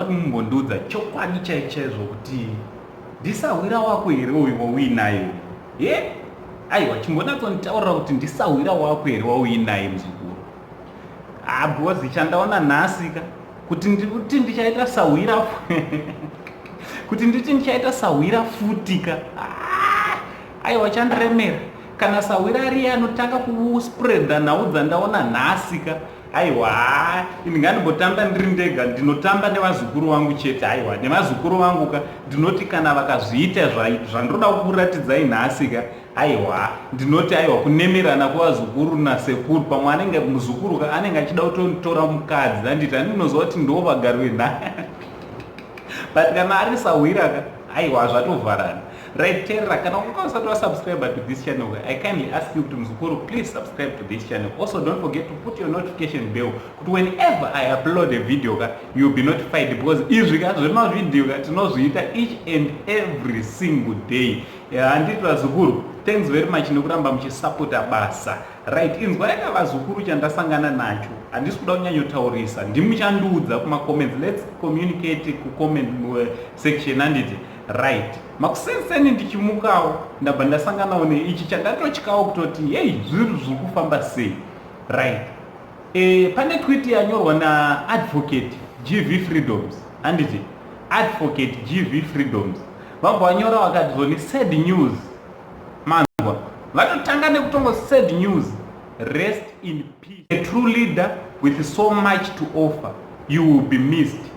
kumbondiudza chokwadi chai chaizvo kuti ndisahwira wako here uyu wauinaye he aiwa chimbonatsonditaurira kuti ndisahwira wako here wauinaye muzukuru abhozi ah, chandaona nhasika kuti ndikuti ndichaita sahwira kuti nditi ndichaita sahwira futika ah, aiwa chandiremera Kana sahwira ariye anotanga kuspreada nhau dzandaona nhasi ka aiwa haa ini ngandimbotamba ndiri ndega ndinotamba nevazukuru vangu chete aiwa nevazukuru vangu ka ndinoti kana vakazviita zvandinoda kukuratidzai nhasi ka aiwa ndinoti aiwa kunemerana kwevazukuru nasekuru pamwe anenge muzukuru ka anenge achida kutotora mukadzi anditi andinoziva kuti ndiwo vagari venhaya but kana ari sahwira ka aiwa zvatovharana Right Terra, kana unga usati wasubscribe to this channel, I kindly ask you kuti mzukuru, please subscribe to this channel. Also don't forget to put your notification bell kuti whenever I upload a video ka, you'll be notified because izvi ka zvema video ka tinozviita each and every single day. Handiti vazukuru, thanks very much nekuramba muchisapota basa. Right, inzwa yaka vazukuru chandasangana nacho. Handisi kuda kunyanyotaurisa. Ndimuchandiudza kuma comments. Let's communicate ku comment eh, section handiti. Right. Makuseni seni ndichimukawo ndabva ndasanganawo neichi chandatotyawo kutoti hey zvinhu zviri kufamba sei. Right. E, pane tweet yanyorwa naadvocate GV Freedoms handiti advocate GV Freedoms vabva vanyora vakati zvoni sad news manzwa vatotanga nekutongo sad news rest in A true leader with so much to offer you will be missed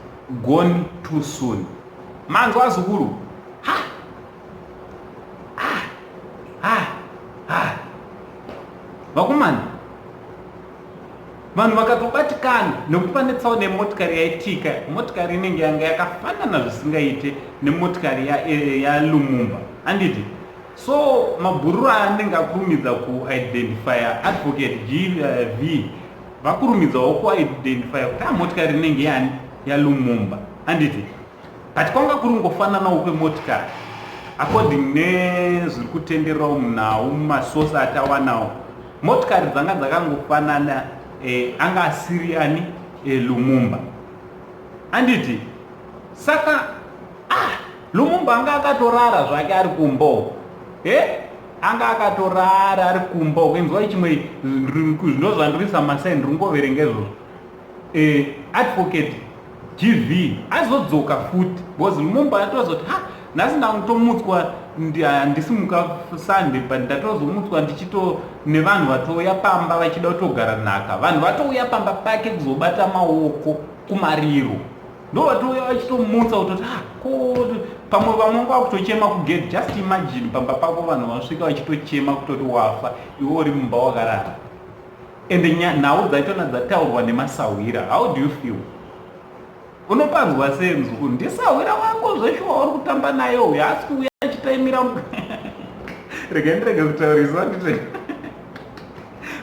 gone too soon manzwa zukuru ha ha ha ha vakomana vanhu vakatobatikana nekuti pane tsaona yemotikari yaitika motikari inenge yanga yakafanana zvisingaite nemotikari yalumumba ya anditi So mabhururu aya anenge akurumidza kuidentifya advocate GV eh, vakurumidzawo kuidentifya kuti amotikari inenge yani yaLumumba handiti but kwanga kuri kungofananawo kwemotikari according nezviri kutendererawo munhau mumasosi atawanawo motikari dzanga dzakangofanana eh, anga asiri ani eh, Lumumba handiti saka Lumumba anga akatorara zvake ari kumbo he anga akatorara ari kumbo kenzwa chimwe ndozvandirisa masaini ringoverenga izvozvo eh, advocate gv azodzoka futi because lumumba atozoti ha nhasi ndakutomutswa handisimuka sunday but ndatozomutswa ndichito nevanhu vatouya pamba vachida kutogara nhaka vanhu vatouya pamba pake kuzobata maoko kumariro ndovatouya vachitomutsa kutoti ah, ko pamwe vamwe nguva kutochema kugate just imagine pamba pako vanhu vanosvika vachitochema kutoti wafa iwe uri mumba wakarara and nhau dzaitona dzataurwa nemasahwira how do you feel unopanzwa senzi kuti ndisahwira wako zveshuwa uri kutamba naye uyo asi kuuya achitaimira regai ndirege kutaurisa ndite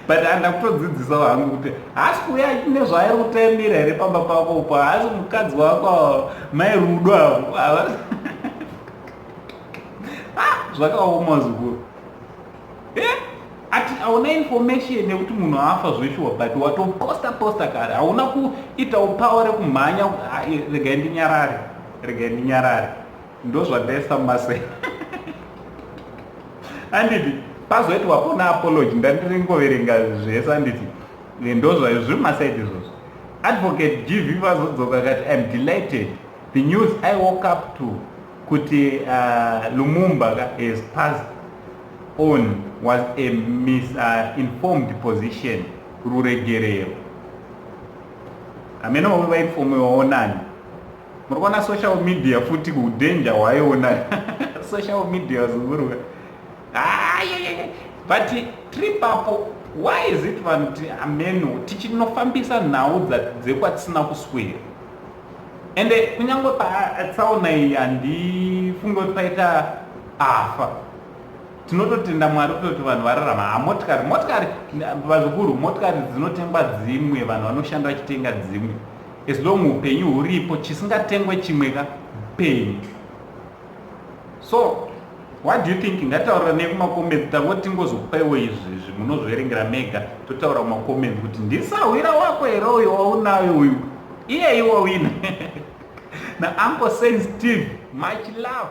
but andakutodzidzisawo hangu kuti haasi kuuya achine zvaari kutaimira here pamba pako upo haasi mukadzi wako mai rudo avo ava ah, zvakaoma zukuru eh, ati hauna information yekuti munhu afa zveshuwa but watoposta posta kare hauna kuitawo pawa rekumhanya ah, regai ndinyarare regai ndinyarare ndozvandaifamba sei anditi pazoiti wapona apology ndandiringoverenga zvese anditi ndozvayo zviri masaidi izvozvo advocate gv vazodzoka kati im delighted the news i woke up to kuti uh, lumumba has passed on was a misinformed uh, position ruregerero amene wavo vainfomewawo nani muri kuona social media futi kudanger hwaiona social media wazunguruka ah, but trip apo why is it vanhu kuti ameno tichinofambisa nhau dzekwatisina kuswera ende eh, kunyange patsaona iyi handifunge kuti paita afa tinototenda mwari kutoti vanhu vararama hamotikari ah, motikari vazukuru motikari dzinotengwa dzimwe vanhu vanoshanda vachitenga dzimwe As long upenyu huripo chisingatengwe chimwe ka penyu. So what do you think ngataura nekumacomments tavo tingozopaiwo izvi izvi munozverengera mega totaura macomments kuti ndisahwira wako here uyo waunayo uyu iyeyi wawina na uncle saint steve much love